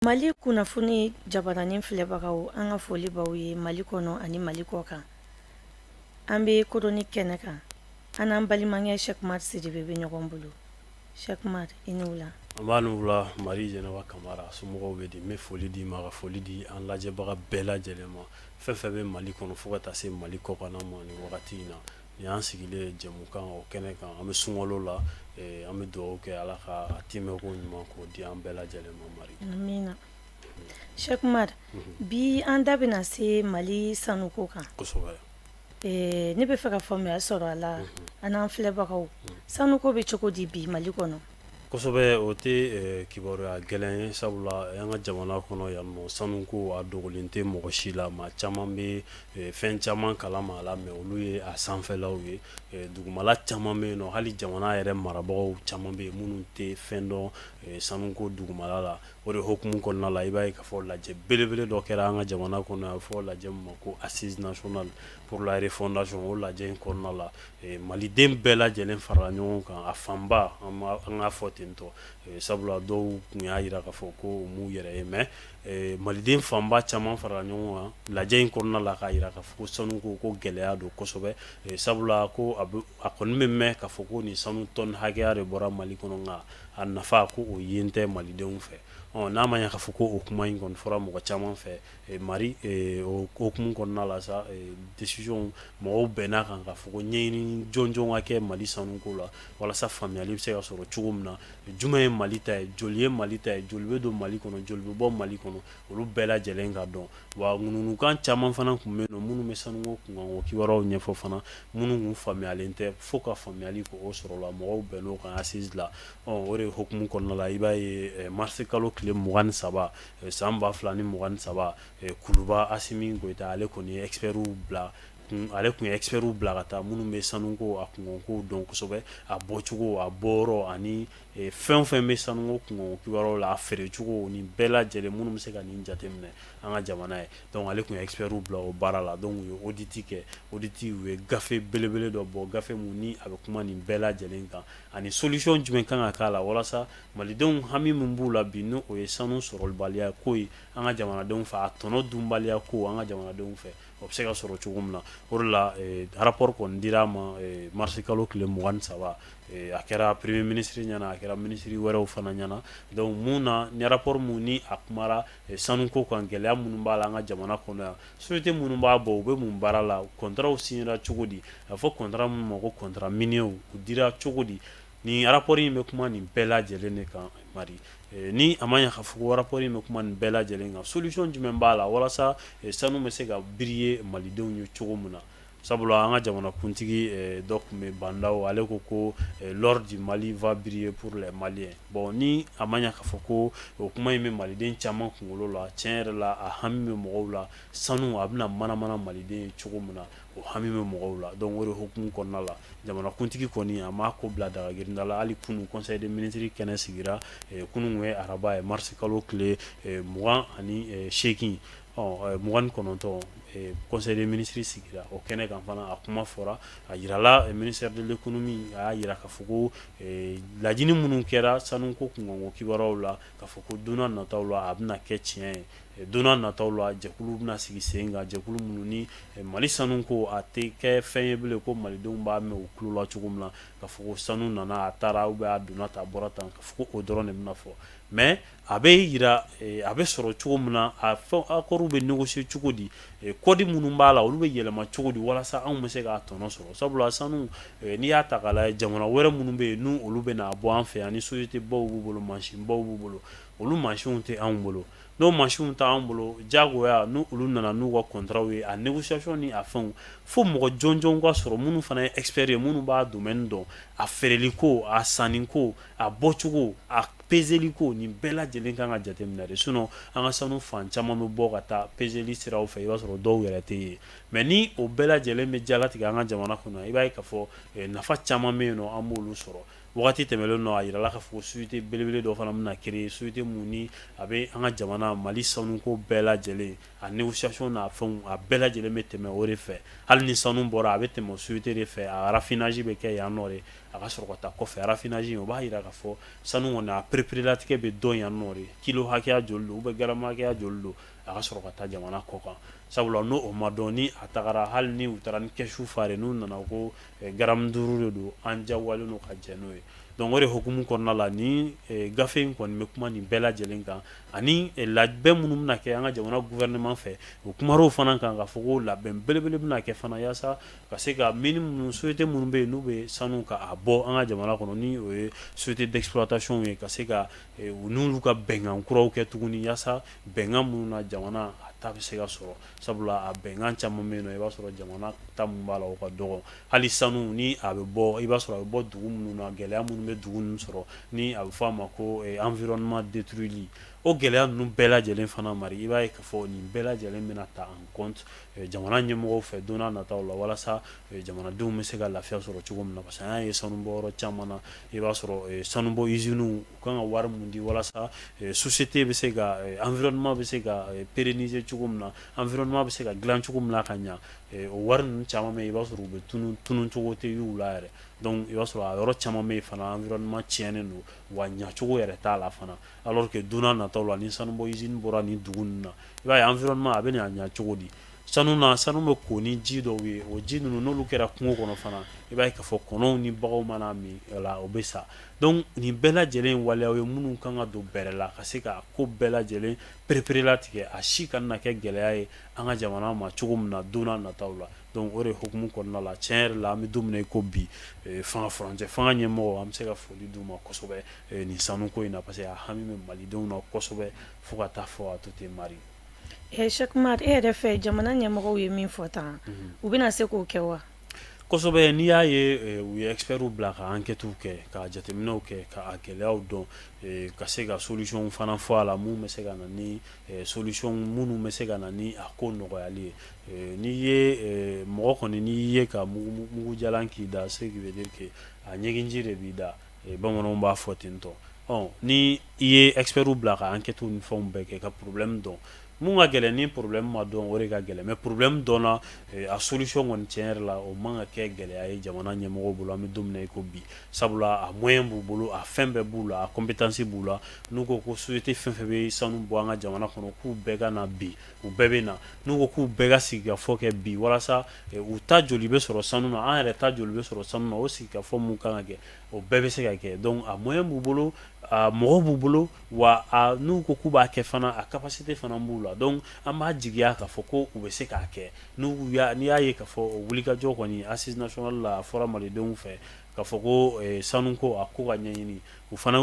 mali kunnafoni jabaranin filɛbagaw an ka foli b'aw ye mali kɔnɔ ani mali kɔ kan an bɛ chronique kɛnɛ kan an n'an balimakɛ cheick oumar sidibe bɛ ɲɔgɔn bolo cheick oumar i ni wula nba i ni wula mari jɛnɛba kamara somɔgɔw bɛ di n bɛ foli d'i ma ka foli di an lajɛbaga bɛɛ lajɛlen ma fɛn fɛn bɛ mali kɔnɔ fo ka taa se mali kɔkan ma ni wagati in na Ni y'an sigilen ye jɛmukan o kɛnɛ kan an bɛ sunkalo la an bɛ dugawu kɛ ala k'a timɛko ɲuman k'o di an bɛɛ lajɛlen ma mari amiina cheick oumar bi an da bɛna na se mali sanuko kan kosɛbɛ ne bɛ fɛ ka faamuya sɔrɔ a la an n'an filɛbagaw sanuko bɛ cogo di bi mali kɔnɔ kosɛbɛ o tɛ kibaruya gɛlɛn ye sabula an ka jamana kɔnɔ yan nɔ sanuko a dogolen tɛ mɔgɔ si la maa caman bɛ fɛn caman kalama a la mais olu ye a sanfɛlaw ye dugumala caman bɛ yen nɔ hali jamana yɛrɛ marabagaw caman bɛ yen minnu tɛ fɛn dɔn sanuko dugumala la o de hukumu kɔnɔna la i b'a ye k'a fɔ lajɛ belebele dɔ kɛra an ka jamana kɔnɔ a bɛ fɔ lajɛ min ma ko assise nationale pour la refondation o lajɛ in kɔnɔna la Maliden bɛɛ lajɛlen farala ɲɔgɔn kan a fanba an k'a fɔ ten tɔ sabula dɔw tun y'a jira k'a fɔ ko u m'u yɛrɛ ye mais maliden fanba caman farala ɲɔgɔn kan lajɛ in kɔnɔna la k'a jira k'a fɔ ko sanuko ko gɛlɛya don kosɛbɛ sabula ko a kɔni bɛ mɛn k'a fɔ ko nin sanu tɔni hakɛya de bɔra mali kɔnɔ nka a nafa ko o yen tɛ malidenw fɛ n'a ma ɲɛ k'a fɔ ko o kuma in kɔni fɔra mɔgɔ caman fɛ Mari o hukumu kɔnɔna la sa décision mɔgɔw bɛnn'a kan k'a fɔ ko ɲɛɲini jɔnjɔn ka kɛ mali sanuko la walasa faamuyayali bɛ se ka sɔrɔ cogo min na jumɛn ye mali ta ye joli ye mali ta ye joli bɛ don mali kɔnɔ joli bɛ bɔ mali kɔnɔ olu bɛɛ lajɛlen ka dɔn wa ŋunuŋunukan caman fana tun bɛ yen nɔ minnu bɛ sanu kunkanko kibaruyaw ɲɛfɔ fana minnu tun faamuyalen tɛ fo ka faamuyayali k'o sɔrɔ o la mɔgɔw bɛnn'o kan assise la o de hukumu kɔnɔna la i b'a ye marisi kalo tile mugan ni saba San 2023 Kuluba Asimi Goyita ale kɔni ye expert bila ale tun ye expert bila ka taa minnu bɛ sanuko a kunkanko dɔn kosɛbɛ a bɔcogo a bɔyɔrɔ ani fɛn o fɛn bɛ sanuko kunkanko kibaruyaw la a feerecogo ni bɛɛ lajɛlen minnu bɛ se ka nin jateminɛ an ka jamana ye donc ale tun ye expert bila o baara la donc u ye audit kɛ audit u ye gafe belebele dɔ bɔ gafe min ni a bɛ kuma nin bɛɛ lajɛlen kan ani solution jumɛn ka kan ka k'a la walasa Malidenw hami min b'u la bi n'o ye sanu sɔrɔbaliya ko ye an ka jamanadenw fɛ a tɔnɔ dunbaliya ko an ka jamanadenw fɛ o bɛ se ka sɔrɔ cogo min na o la rapport kɔni dir'a ma marisi kalo tile mugan ni saba a kɛra premier ministre ɲɛna a kɛra ministre wɛrɛw fana ɲɛna donc mun na ni rapport min ni a kumara sanuko kan gɛlɛya minnu b'a la an ka jamana kɔnɔ yan société minnu b'a bɔ u bɛ mun baara la contratw signera cogo di a fɔ contrat minnu ma ko contrat minier u dira cogo di Nin rapport in bɛ kuma nin bɛɛ lajɛlen de kan Mali, ni a ma ɲɛ k'a fɔ ko rapport in bɛ kuma nin bɛɛ lajɛlen kan solution jumɛn b'a la walasa sanu bɛ se ka briller malidenw ye cogo min na sabula an ka jamanakuntigi dɔ tun bɛ yen Bandaw ale ko ko l'or du Mali va briller pour les Maliens bon ni a ma ɲɛ k'a fɔ ko o kuma in bɛ maliden caman kunkolo la tiɲɛ yɛrɛ la a hami bɛ mɔgɔw la sanu a bɛna mana-mana maliden ye cogo min na o hami bɛ mɔgɔw la donc o de hukumu kɔnɔna la jamanakuntigi kɔni a m'a ko bila dagagirinda la hali kunun conseil des ministres kɛnɛ sigira kunun ye araba ye marisi kalo tile mugan ani seegin ɔ mugan ni kɔnɔntɔn conseil des ministres sigira o kɛnɛ kan fana a kuma fɔra a jirala ministère de l'économie a y'a jira k'a fɔ ko laɲini minnu kɛra sanu ko kunkanko kibaruyaw la k'a fɔ ko don nataw la a bɛna kɛ tiɲɛ ye Don nataw la jɛkulu bɛna sigi sen kan jɛkulu minnu ni mali sanu ko a tɛ kɛ fɛn ye bilen ko malidenw b'a mɛn u tulo la cogo min na k'a fɔ sanu nana a taara ou bien a donna tan a bɔra tan k'a fɔ o dɔrɔn de bɛna fɔ mais a bɛ jira a bɛ sɔrɔ cogo min na a fɛn accordw bɛ négocier cogo di kɔdi minnu b'a la olu bɛ yɛlɛma cogo di walasa anw bɛ se k'a tɔnɔ sɔrɔ sabula sanu n'i y'a ta k'a lajɛ jamana wɛrɛ minnu bɛ yen n'olu bɛna a bɔ an fɛ yan ni société baw b'u bolo mansin baw b'u bolo olu mansinw tɛ anw bolo n'o mansinw t'anw bolo jagoya n'olu nana n'u ka contratw ye a négociation ni a fɛnw fo mɔgɔ jɔnjɔn ka sɔrɔ minnu fana ye expert ye minnu b'a domaine dɔn a feereli ko a sanni ko a bɔcogo a pezeli ko nin bɛɛ lajɛlen ka kan ka jateminɛ de sinon an ka sanu fan caman bɛ bɔ ka taa pezeli siraw fɛ i b'a sɔrɔ dɔw yɛrɛ tɛ ye mais ni o bɛɛ lajɛlen bɛ jalatigɛ an ka jamana kɔnɔ i b'a ye k'a fɔ nafa caman bɛ yen nɔ an b'olu sɔrɔ Waati tɛmɛlen nɔ a jirala k'a fɔ société belebele dɔ fana bɛna créer société min ni a bɛ an ka jamana mali sanuko bɛɛ lajɛlen a négociation n'a fɛnw a bɛɛ lajɛlen bɛ tɛmɛ o de fɛ hali ni sanu bɔra a bɛ tɛmɛ o société de fɛ a raffinage bɛ kɛ yan nɔ de a ka sɔrɔ ka taa kɔfɛ raffinage o b'a jira k'a fɔ sanu kɔni a pereperelatigɛ bɛ dɔn yan nɔ de kilo hakɛya joli don ou bien garamu hakɛya joli don a ka sɔrɔ ka taa jamana kɔ kan sabula n'o ma dɔn ni a tagara hali ni u taara ni kɛsu fare n'u nana ko Garamu duuru de don an jagoyalen don ka jɛn n'o ye donc o de hukumu kɔnɔna la ni gafe in kɔni bɛ kuma nin bɛɛ lajɛlen kan ani labɛn minnu bɛna kɛ an ka jamana gouvernement fɛ o kumara o fana kan k'a fɔ ko labɛn belebele bɛna kɛ fana yaasa ka se ka minnu société minnu bɛ yen n'u bɛ sanu ka a bɔ an ka jamana kɔnɔ ni o ye société d'exploitation ye ka se ka u n'olu ka bɛnkan kuraw kɛ tuguni yaasa bɛnkan minnu na jamana a ta bɛ se ka sɔrɔ sabula a bɛnkan caman bɛ yen i b'a sɔrɔ jamana ta mun b'a la o ka dɔgɔ hali sanu ni a bɛ bɔ i b'a sɔrɔ a bɛ bɔ dugu minnu na gɛlɛya minnu bɛ dugu ninnu sɔrɔ ni a bɛ fɔ a ma ko environnement détruitli o gɛlɛya ninnu bɛɛ lajɛlen fana mari i b'a ye k'a fɔ nin bɛɛ lajɛlen bɛna ta en compte jamana ɲɛmɔgɔw fɛ don nataw la walasa jamanadenw bɛ se ka lafiya sɔrɔ cogo min na parce que an y'a ye sanubɔyɔrɔ caman na i b'a sɔrɔ sanubɔ usinew u ka kan ka wari min di walasa société bɛ se ka environnement bɛ se ka pérenniser cogo min na environnement bɛ se ka dilan cogo min na ka ɲɛ o wari ninnu caman bɛ yen i b'a sɔrɔ u bɛ tu tunun cogo tɛ y'u la yɛrɛ donc i b'a sɔrɔ a yɔrɔ caman bɛ yen fana environnement tiɲɛnen don wa ɲɛcogo yɛrɛ t'a la fana alors que don nataw la ni sanubɔ usine bɔra nin dugu nin na i b'a ye environnement a bɛ na ɲɛ cogo di sanu na sanu bɛ ko ni ji dɔw ye o ji ninnu n'olu kɛra kungo kɔnɔ fana i b'a ye k'a fɔ kɔnɔw ni baganw mana min o la o bɛ sa donc nin bɛɛ lajɛlen ye waleyaw ye minnu kan ka don bɛrɛ la ka se ka ko bɛɛ lajɛlen pereperelatigɛ a si kana na kɛ gɛlɛya ye an ka jamana ma cogo min na don nataw la donc o de hukumu kɔnɔna la cɛn yɛrɛ la an bɛ don min na i ko bi fanga furancɛ fanga ɲɛmɔgɔw an bɛ se ka foli d'u ma kosɛbɛ nin sanuko in na parce que a hami bɛ malidenw na kosɛbɛ fo ka taa fɔ a to ten mari ye Ɛ Cheikh Umar e yɛrɛ fɛ jamana ɲɛmɔgɔw ye min fɔ tan u bɛna se k'o kɛ wa kosɛbɛ n'i y'a ye u ye expertw bila ka enquêtew kɛ ka jateminɛw kɛ ka a gɛlɛyaw dɔn ka se ka solution fana fɔ a la mun bɛ se ka na ni solution minnu bɛ se ka na ni a ko nɔgɔyali ye n'i ye mɔgɔ kɔni n'i ye ka mugu jalan k'i da ce qui veut dire que a ɲigin ji de b'i da Bamananw b'a fɔ ten tɔ ni i ye expertw bila ka enquêtew ni fɛnw bɛɛ kɛ ka problème dɔn mun ka gɛlɛn ni problème ma dɔn o de ka gɛlɛn mais problème dɔnna a solution kɔni cɛn yɛrɛ la o man ka kɛ gɛlɛya ye jamana ɲɛmɔgɔw bolo an bɛ don min na i ko bi sabula a moyen b'u bolo a fɛn bɛɛ b'u la a compétence b'u la n'u ko ko société fɛn fɛn bɛ sanu bɔ an ka jamana kɔnɔ k'u bɛɛ ka na bi u bɛɛ bɛ na n'u ko k'u bɛɛ ka sigikafɔ kɛ bi walasa u ta joli bɛ sɔrɔ sanu na an yɛrɛ ta joli bɛ sɔrɔ sanu na o sigikafɔ minnu kan ka kɛ o bɛɛ bɛ se ka kɛ donc a moyen b'u bolo mɔgɔw b'u bolo wa n'u ko k'u b'a kɛ fana a capacité fana b'u la donc an b'a jigiya k'a fɔ ko u bɛ se k'a kɛ n'u n'i y'a ye k'a fɔ o wulikajɔ kɔni assises nationales la a fɔra malidenw fɛ k'a fɔ ko sanuko a ko ka ɲɛɲini u fana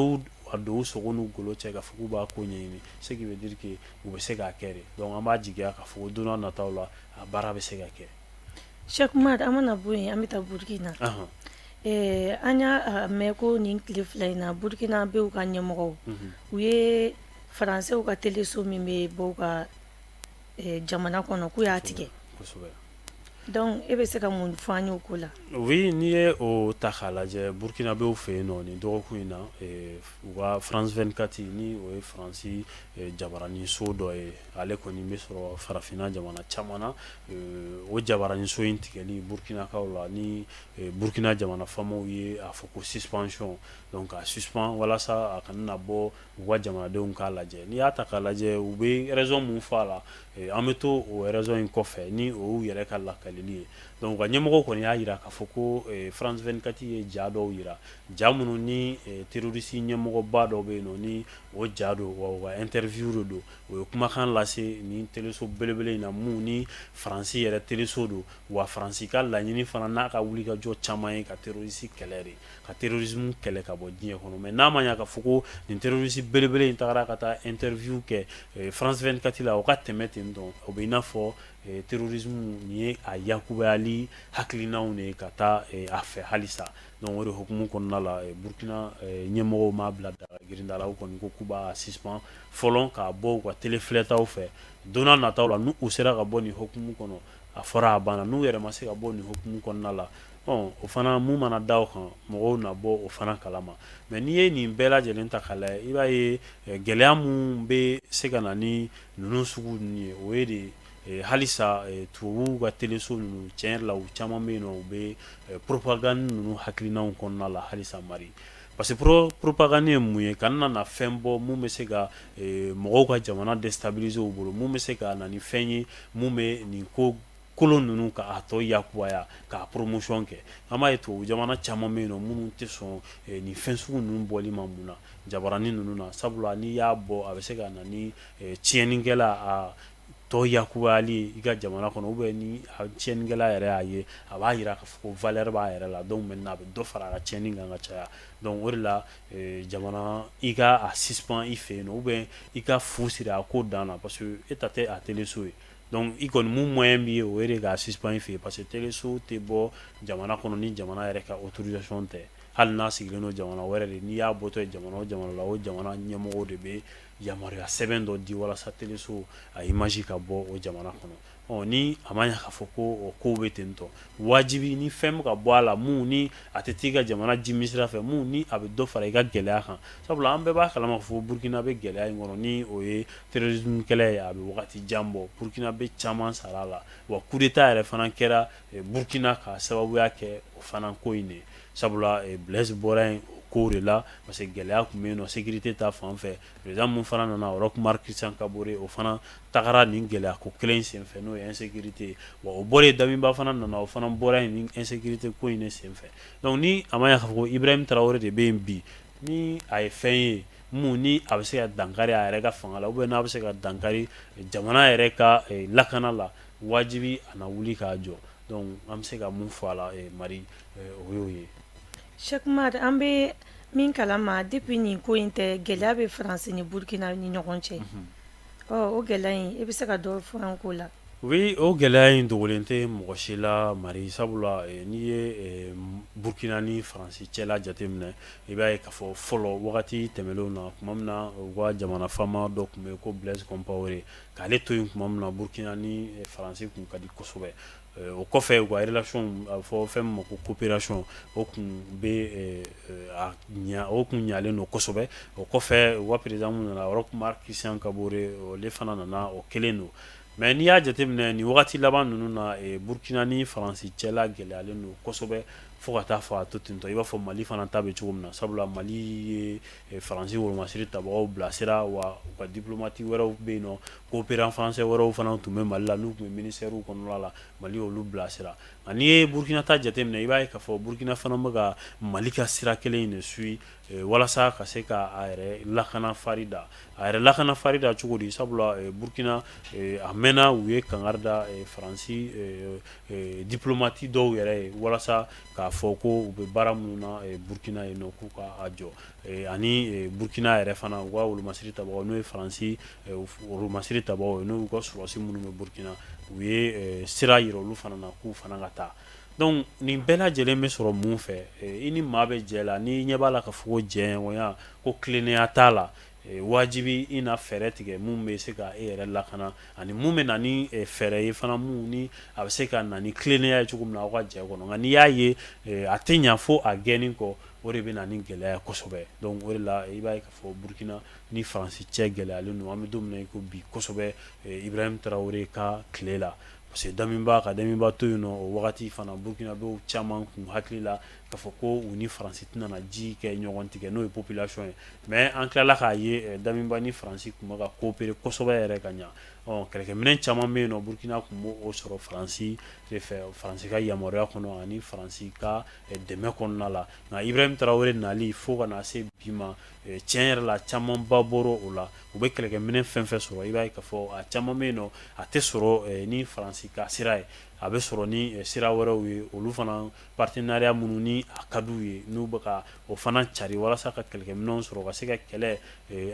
y'a don u sogo n'u golo cɛ k'a fɔ k'u b'a ko ɲɛɲini ce qui veut dire que u bɛ se k'a kɛ de donc an b'a jigiya k'a fɔ ko don nataw la a baara bɛ se ka kɛ Cheikh Umar an mana bɔ yen an bɛ taa Burukina an y'a mɛn ko nin tile fila in na Burukina bɛ u ka ɲɛmɔgɔw u ye faransɛw ka teleso min bɛ bɔ u ka jamana kɔnɔ k'u y'a tigɛ Donc e bɛ se ka mun fɔ an ye o ko la oui n'i ye o ta k'a lajɛ burukinabɛw fɛ yen nɔ nin dɔgɔkun in na u ka France 24 ni o ye faransi jabaranin so dɔ ye ale kɔni bɛ sɔrɔ farafinna jamana caman na o jabaranin so in tigɛli burukinakaw la ni burukina jamana faamaw ye a fɔ ko suspension donc a suspend walasa a kana na bɔ u ka jamanadenw k'a lajɛ n'i y'a ta k'a lajɛ u bɛ raison min fɔ a la an bɛ to o raison in kɔfɛ ni o y'u yɛrɛ ka lakalili ye donc u ka ɲɛmɔgɔw kɔni y'a jira k'a fɔ ko France 24 ye ja dɔw jira ja minnu ni terroriste ɲɛmɔgɔba dɔ bɛ yen nɔ ni o ja don wa o ka interview de don o ye kumakan lase ni teleso belebele in na mun ni faransi yɛrɛ teleso don wa faransi ka laɲini fana n'a ka wulikajɔ caman ye ka terroriste kɛlɛ de ka terrorisme kɛlɛ ka bɔ diɲɛ kɔnɔ mais n'a ma ɲɛ k'a fɔ ko nin terroriste belebele in tagara ka taa interview kɛ eh, France 24 la o ka tɛmɛ ten donc o bɛ i n'a fɔ eh, terrorisme nin ye a yakubayali hakilinaw de ye ka taa eh, a fɛ halisa donc o de hukumu kɔnɔna la Burkina ɲɛmɔgɔw m'a bila daga girinda la u kɔni ko k'u b'a suspend fɔlɔ k'a bɔ u ka telefilɛtaw fɛ don n'a nataw la n'u sera ka bɔ nin hukumu kɔnɔ a fɔra a banna n'u yɛrɛ ma se ka bɔ nin hukumu kɔnɔna la Ɔ o fana mun mana da o kan mɔgɔw na bɔ o fana kalama mais n'i ye nin bɛɛ lajɛlen ta k'a lajɛ i b'a ye gɛlɛya mun bɛ se ka na ni ninnu sugu ninnu ye o ye de halisa tubabuw ka teleso ninnu cɛ la u caman bɛ yen nɔ u bɛ propagande ninnu hakilinaw kɔnɔna la halisa mari parce que propagande ye mun ye ka na fɛn bɔ mun bɛ se ka mɔgɔw ka jamana déstabiliser u bolo mun bɛ se ka na ni fɛn ye mun bɛ nin ko kolon ninnu k'a tɔ yakubaya k'a promotion kɛ an b'a ye tubabu jamana caman bɛ yen nɔ minnu tɛ sɔn nin fɛn sugu ninnu bɔli ma mun na jabaranin ninnu na sabula n'i y'a bɔ a bɛ se ka na ni tiɲɛnikɛla a tɔ yakubayali ye i ka jamana kɔnɔ bɛ ni tiɲɛnikɛla yɛrɛ y'a ye a b'a jira k'a fɔ ko valeur b'a yɛrɛ la donc maintenant a bɛ dɔ fara a ka tiɲɛni kan ka caya donc o de la jamana i ka a suspend i fɛ yen nɔ o bɛ i ka fu siri a ko dan na parce que e ta tɛ a teleso ye donc i kɔni mun moyen b'i ye o ye de k'a suspend i fɛ yen parce que teleso tɛ bɔ jamana kɔnɔ ni jamana yɛrɛ ka autorisation tɛ hali n'a sigilen don jamana wɛrɛ de n'i y'a bɔtɔ ye jamana o jamana la o jamana ɲɛmɔgɔ de bɛ yamaruya sɛbɛn dɔ di walasa teleso a image ka bɔ o jamana kɔnɔ ni a ma ɲɛ k'a fɔ ko kow bɛ ten tɔ wajibi ni fɛn bɛ ka bɔ a la mun ni a tɛ t'i ka jamana jimi sira fɛ mun ni a bɛ dɔ fara i ka gɛlɛya kan sabula an bɛɛ b'a kalama fɔ burukina bɛ gɛlɛya in kɔnɔ ni o ye Terrorisme kɛlɛ ye a bɛ wagati jan bɔ Burkinabé caman sara a la wa coup d'Etat yɛrɛ fana kɛra Burkina k'a sababuya kɛ o fana ko in de ye sabula Blaise bɔra yen o kow de la parce que gɛlɛya tun bɛ yen nɔ sécurité ta fan fɛ président min fana nana Roch Marc Christian Kabore o fana tagara nin gɛlɛya ko kelen in senfɛ n'o ye insécurité ye wa o bɔra yen Damiba fana nana o fana bɔra yen ni insécurité ko in de senfɛ donc ni a ma ɲɛ k'a fɔ ko Ibrahim Traore de bɛ yen bi ni a ye fɛn ye min ni a bɛ se ka dankari a yɛrɛ ka fanga la oubien n'a bɛ se ka dankari jamana yɛrɛ ka lakana la wajibi a na wuli k'a jɔ donc an bɛ se ka mun fɔ a la Mari o y'o ye Cheick Umar an bɛ min kalama depuis nin ko in tɛ gɛlɛya bɛ France ni Burkina ni ɲɔgɔn cɛ. o gɛlɛya in i bɛ se ka dɔ fɔ a ko la oui o gɛlɛya in dogolen tɛ mɔgɔ si la mari sabula n'i ye burukina ni faransi cɛ la jateminɛ i b'a ye k'a fɔ fɔlɔ wagati tɛmɛnlenw na tuma min na u ka jamana faama dɔ tun bɛ yen ko Blaise Compaoré k'ale to yen tuma min na burukina ni faransi tun ka di kosɛbɛ o kɔfɛ u ka relation a fɔ fɛn min ma ko coopération o tun bɛ o tun ɲalen don kosɛbɛ o kɔfɛ wa président min nana Roch Marc Christian Kabore ale fana nana o kelen don mais n'i y'a jateminɛ nin wagati laban ninnu na burukina ni faransi cɛla gɛlɛyalen don kosɛbɛ fo ka taa fɔ a to tentɔ i b'a fɔ mali fana ta bɛ cogo min na sabula mali ye faransi wolomasiri tabagaw bilasira wa u ka diplomate wɛrɛw bɛ yen nɔ coopérant français wɛrɛw fana tun bɛ mali la n'u tun bɛ ministèrew kɔnɔna la mali y'olu bilasira nka n'i ye burukina ta jateminɛ i b'a ye k'a fɔ burukina fana bɛ ka mali ka sira kelen in de suivi walasa ka se ka a yɛrɛ lakana farin da a yɛrɛ lakana farin da cogo di sabula burukina a mɛnna u ye kangari da faransi diplomate dɔw yɛrɛ ye walasa k'a fɔ ko u bɛ baara minnu na burukina yen nɔ k'u k'a jɔ ani burukina yɛrɛ fana u ka wolomasiri tabaa n'o ye faransi masiri tabaa ye n'u ka sɔrɔsi minnu bɛ burukina u ye sira yira olu fana na k'u fana ka taa donc nin bɛɛ lajɛlen bɛ sɔrɔ mun fɛ i ni maa bɛ jɛ la n'i ɲɛ b'a la k'a fɔ jɛɲɔgɔnya ko tilennenya t'a la wajibi i na fɛɛrɛ tigɛ min bɛ se ka e yɛrɛ lakana ani min bɛ na ni fɛɛrɛ ye fana min ni a bɛ se ka na ni tilennenya ye cogo min na aw ka jɛ kɔnɔ nka n'i y'a ye a tɛ ɲɛ fo a gɛnni kɔ o de bɛ na ni gɛlɛya kosɛbɛ la i b'a Burukina ni faransi cɛ gɛlɛyalen don an bɛ don min na i ko bi kosɛbɛ Ibrahim Traore ka tile la parce que Damiba ka Damiba to yen nɔ o wagati fana burkinabé caman kun hakili la k'a fɔ ko u ni faransi tɛna na ji kɛ ɲɔgɔn tigɛ n'o ye population ye mais an tilala k'a ye Damiba ni faransi tun bɛ ka coopérer kosɛbɛ yɛrɛ ka ɲɛ kɛlɛkɛminɛn caman bɛ yen nɔ burukina tun b'o sɔrɔ faransi de fɛ faransi ka yamaruya kɔnɔ ani faransi ka dɛmɛ kɔnɔna la nka ibrahim tarawele nali fo ka na se bi ma tiɲɛ yɛrɛ la camanba bɔra o la u bɛ kɛlɛkɛminɛ fɛn fɛn sɔrɔ i b'a ye ka fɔ a caman bɛ yen nɔ a tɛ sɔrɔ ni faransi ka sira ye a bɛ sɔrɔ ni sira wɛrɛw ye olu fana partenariat minnu ni a ka d'u ye n'u bɛ ka o fana cari walasa ka kɛlɛkɛminɛnw sɔrɔ ka se ka kɛlɛ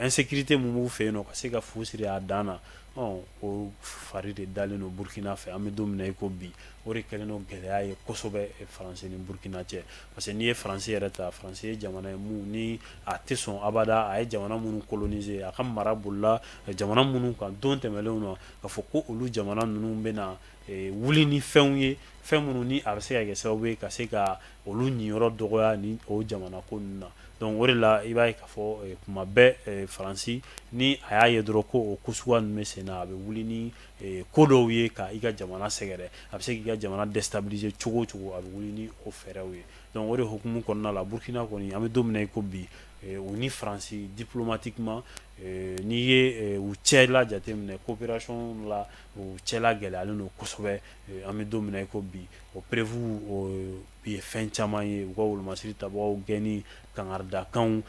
insécurité min b'u fɛ yen nɔ ka se ka fu siri a dan na o fari de dalen don burukina fɛ an bɛ don min na i ko bi O de kɛlen don gɛlɛya ye kosɛbɛ France ni Burkina cɛ parce que n'i ye France yɛrɛ ta France ye jamana ye mun ni a tɛ sɔn abada a ye jamana minnu coloniser a ka mara bolila jamana minnu kan don tɛmɛnlenw na ka fɔ ko olu jamana ninnu bɛna wuli ni fɛnw ye fɛn minnu ni a bɛ se ka kɛ sababu ye ka se ka olu ɲiyɔrɔ dɔgɔya ni o jamana ko ninnu na donc o de la i b'a ye ka fɔ kuma bɛɛ France ni a y'a ye dɔrɔn ko o ko suguya ninnu bɛ senna a bɛ wuli ni ko dɔw ye ka i ka jamana sɛgɛrɛ a bɛ se k'i ka jamana déstabiliser cogo o cogo a bɛ wuli ni o fɛɛrɛw ye donc o de hukumu kɔnɔna la burukina kɔni an bɛ don min na i ko bi u ni faransi diplomatiquement n'i ye u cɛ la jateminɛ coopération la u cɛ la gɛlɛyalen don kosɛbɛ an bɛ don min na i ko bi o preuve U ye fɛn caman ye u ka wolomasiri tabagaw gɛnni ka n'a da a kan u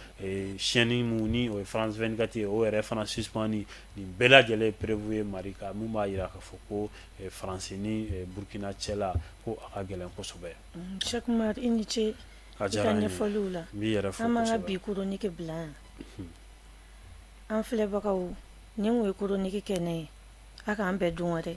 chaîne min ni o ye France 24 ye o yɛrɛ fana suspendu nin bɛɛ lajɛlen ye preuve ye marque min b'a jira k'a fɔ ko faransi ni burukina cɛ la ko a ka gɛlɛn kosɛbɛ cɛ i ni ce a diyara ɲɛfɔliw la n b'i yɛrɛ fo an b'an ka bi chronique bila yan an filɛbagaw nin ye chronique kɛnɛ ye a k'an bɛn don wɛrɛ dɛ